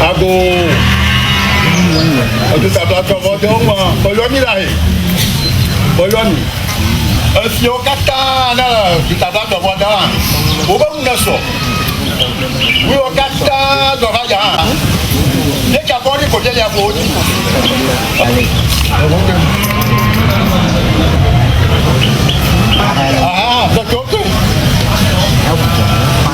Ago. Edu tata tɔ vɔ de ŋua. Bɔyɔ mi la he. Bɔyɔ mi. Efiɔ kata na du tata tɔ vɔ da. Wo be ŋun sɔ. Wo kata zɔ va ja. Ne tsa kɔ ni ko tse ya ko ti. Aha, tɔtɔ tɔ.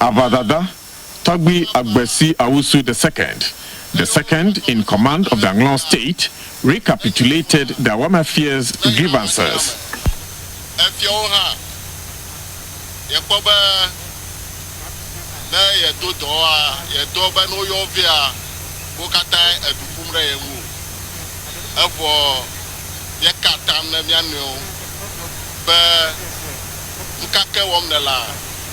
Aʋadada tɔgbi Agbesi Awusu the Second, the second in command of the Anglong State, recapitulated the Awama Fiers' grievances. Efiawo hã, yekpɔ be ne yedo dɔwoa, yedɔ be ne woyɔ vea, wo katãe eɖu ƒum ɖe ye ŋu o. Evɔ yeka atam ne mía nɔewo be, Nukake wɔm nèlea?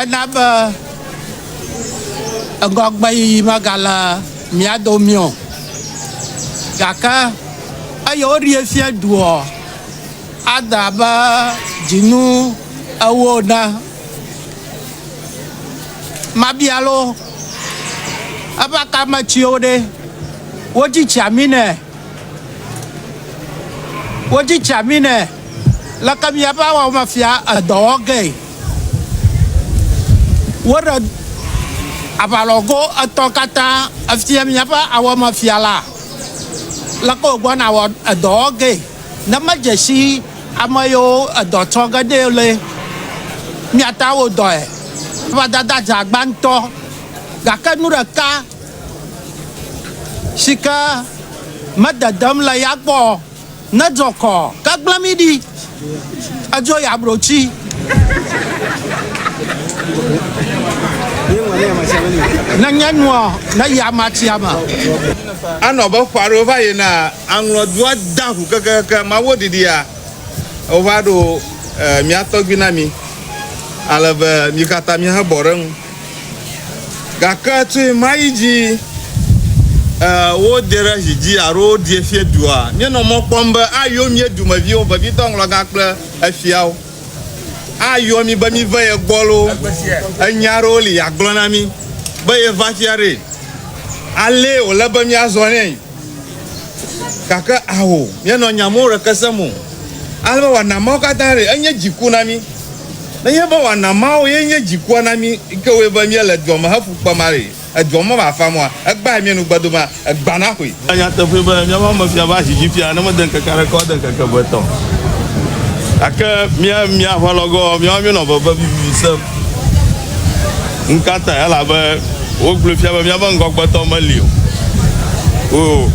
Ena be ŋgɔgbeyiyi megale mía domii o. Gake eye woɖii fia duɔ, ade abe dzinu ewo ene. Mabia loo, eƒe akametsiwo ɖe, wodzi tsia mí nɛ? Wodzi tsia mí nɛ? Leke míaƒe awɔme fia edɔ wɔ gee? Woɖe aʋalɔgo etɔ̃ katã efia míaƒe awɔme fia la. Leke wògbɔna awɔ edɔ wɔ gee? Ne medze si ame yiwo edɔ tsɔ ge ɖee le míate ŋu awɔ dɔe. Eva dada dze agba ŋutɔ. Gake nu ɖeka si ke mededem le ya gbɔ o. Ne dzɔ kɔ ke gblẽ mi ɖi edzo ya bro tsi. Ne nye nuɔ ne yi ama tsia me. Anɔ abe ƒe aɖewo va yina aŋlɔ dua da ŋu kekeake ma wo ɖiɖia wova ɖo mia tɔgbi na mi ale be mi kata mi he bɔ ɖe ŋu. Gake tso ɣemaɣi dzi e, wodee ɖe zi dzi alo woɖie fia dua, míenɔ mɔ kpɔm be ayɔ mía dumeviwo, vevitɔ ŋlɔgã kple efiawo, ayɔ mí be míve ye gbɔ loo, enya aɖewo li yeagblɔ na mí be yeva fia ɖee. Alee wòle be míazɔ nɛ. Gake ao, míenɔ nya mɔ ɖeke sem o, ale be wòana Mawu katã ɖe enye dziku na mí. Nenye be wòana Mawu ye nye dzikua na mí yi ke wɔe be míele dua me heƒu kpem ale edua me mafa mɔa, egbea míenu gbe dome egbea naxɔe. Ele nyateƒee be míaƒe ame fia va zi dzi fia ne mede ŋkeke aɖeke o ade ŋkeke eve etɔ̃. Gake mía mía aʋalɔgoa, míawo míenɔ veve vivivi sem. Nukatae? Elabe wogblɔe fia be míaƒe ŋgɔgbetɔ meli o. O,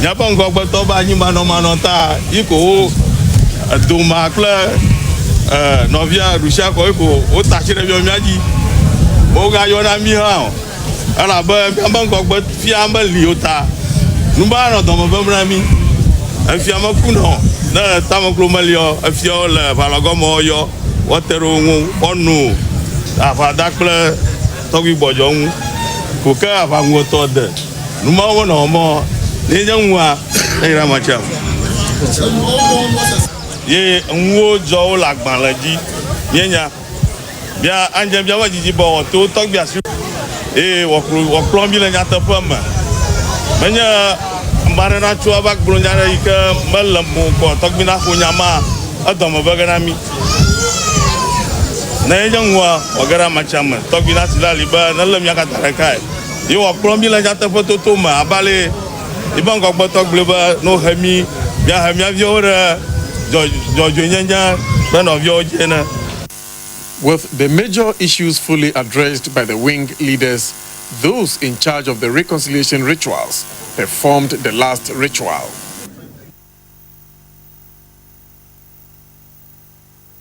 míaƒe ŋgɔgbetɔ be anyimanɔmanɔ ta yi ko wo, Doma kple nɔvia Rusia koe ko wota tsi ɖe mía mía dzi. Wogayɔna mí hã o. Elabe míaƒe ŋgɔgbe fia meli o ta, nu be anɔ dɔme ʋẽm na mí. Efia mekunɔ o, ne le tameklo meli ɔ, efiawo le ʋalɔgɔme ɔ yɔ, woate ɖe wo ŋu woanu aʋa da kple tɔgbi gbɔdzɔ ŋu ko ke aʋa ŋuwɔtɔ de. Nu mawo me nɔwɔ mɔ, ne nye ŋua ne yra ma tsia ŋu. Ye ŋuwo dzɔwo le agbalẽ dzi, míenya. Bia anyidzenu bia be didi be wòato wo tɔgbi asi eye wòakplɔ wòakplɔ mi le nyateƒe me. Menye ame aɖe natso ava gblɔ nya aɖe yi ke mele mo kɔ tɔgbi naxo nya ma edɔme be ge na mi. Ne enye ŋua, wòage ɖe ame sia ame tɔgbi nasi ɖe ali be nelé mía katã ɖekae. Ye wòakplɔ mi le nyateƒetoto me abe ale Yi ƒe ŋgɔgbetɔ gblɔe be, Ne wohe mí, míahe mía viwo ɖe dzɔdzɔenyenye ƒe nɔviawo dzi ene. With the major issues fully addressed by the wing leaders, those in charge of the reconciliation rituals performed the last ritual.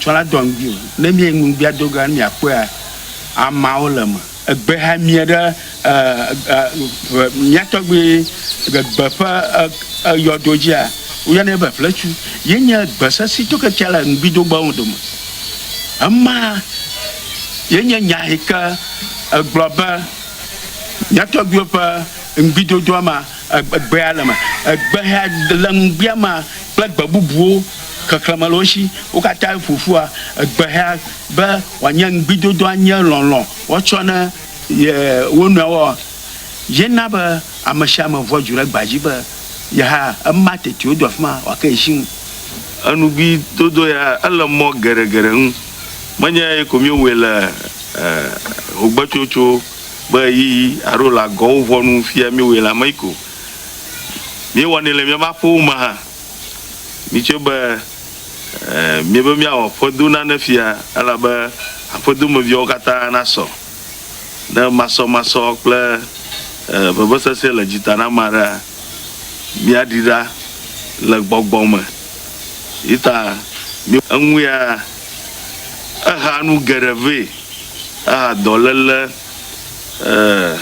Tsɔ la dɔ ŋdi o. Ne mia ŋugbea do ga ne mia kpɔea amawo le me. Egbe ha mia ɖe ƒe mia tɔgbi egbe ƒe eyɔdo dzia, wo yɔnɛ be ƒletsu. Ye nye egbe sesi to ke tsia le ŋgbi do gbewo dome. Ema ye nye nya yi ke egblɔ be mia tɔgbiwo ƒe ŋgbi dodoa ma, egbea le me. Egbe ha le ŋgbia ma kple gbe bubuwo. Xexlẽme le wo shi. Wo katã ƒo ƒua egbehea be wòanye ŋugbidodo anye lɔlɔ̃ woatsɔ ne ye wo nɔewo. Ye na be ame sia ame ʋua dzu ɖe egbea dzi be ye hã ema teti wodo afi ma wòake ye shi ŋu. Enugbidodo ya ele mɔ geɖegeɖe ŋu. Menye ye ko míewɔe le hogbetsotso ƒe ɣeyiɣi alo le agɔwo ʋɔnu fia míewɔe le ame yi ko. Míewɔnɛ le míaƒe aƒewo me hã. Mitso be, Ẽ, míebe míawɔ aƒedo na ne fia, elabe aƒedomeviawo katã nasɔ. Ne masɔmasɔ kple ẽ, vevesese le dzi ta na ame aɖea, míaɖi ɖa le gbɔgbɔ me. Yi ta mí. Eŋu ya, ehea nu geɖe vɛ, ehea dɔléle, ẽ,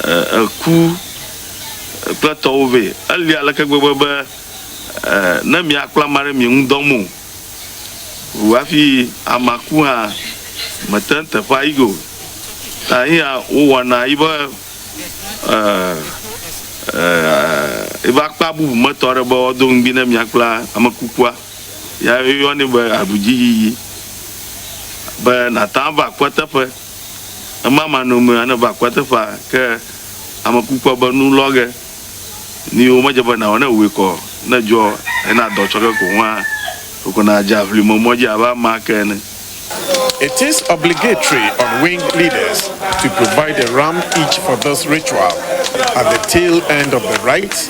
ẽ, ẽ, ku, kple tɔwo vɛ. Eli aleke gbegbe be ne miakpla ame aɖe mienu dɔm o wu hafi amea ku hã, mète ŋu teƒea yi ge o. Ta eya wowɔna yi be yi be akpa bubu me tɔ aɖe be woado ŋugbi ne miakpla ame kukua. Eya woyɔnɛ be aɖudziyiyi be nàte ŋu ava kpɔteƒe. Ema ma nome ane va akua teƒa ke ame kukua be nu lɔ ge ni wo medze be nawɔ ne wue kɔ ne dzɔ ena dɔ tsɔ ke ko ŋua ɖoko na dze aʋli me mɔdzi abe ama ke ene. It is obligatory on wing leaders to provide a ram each for this ritual at the tail end of the rite.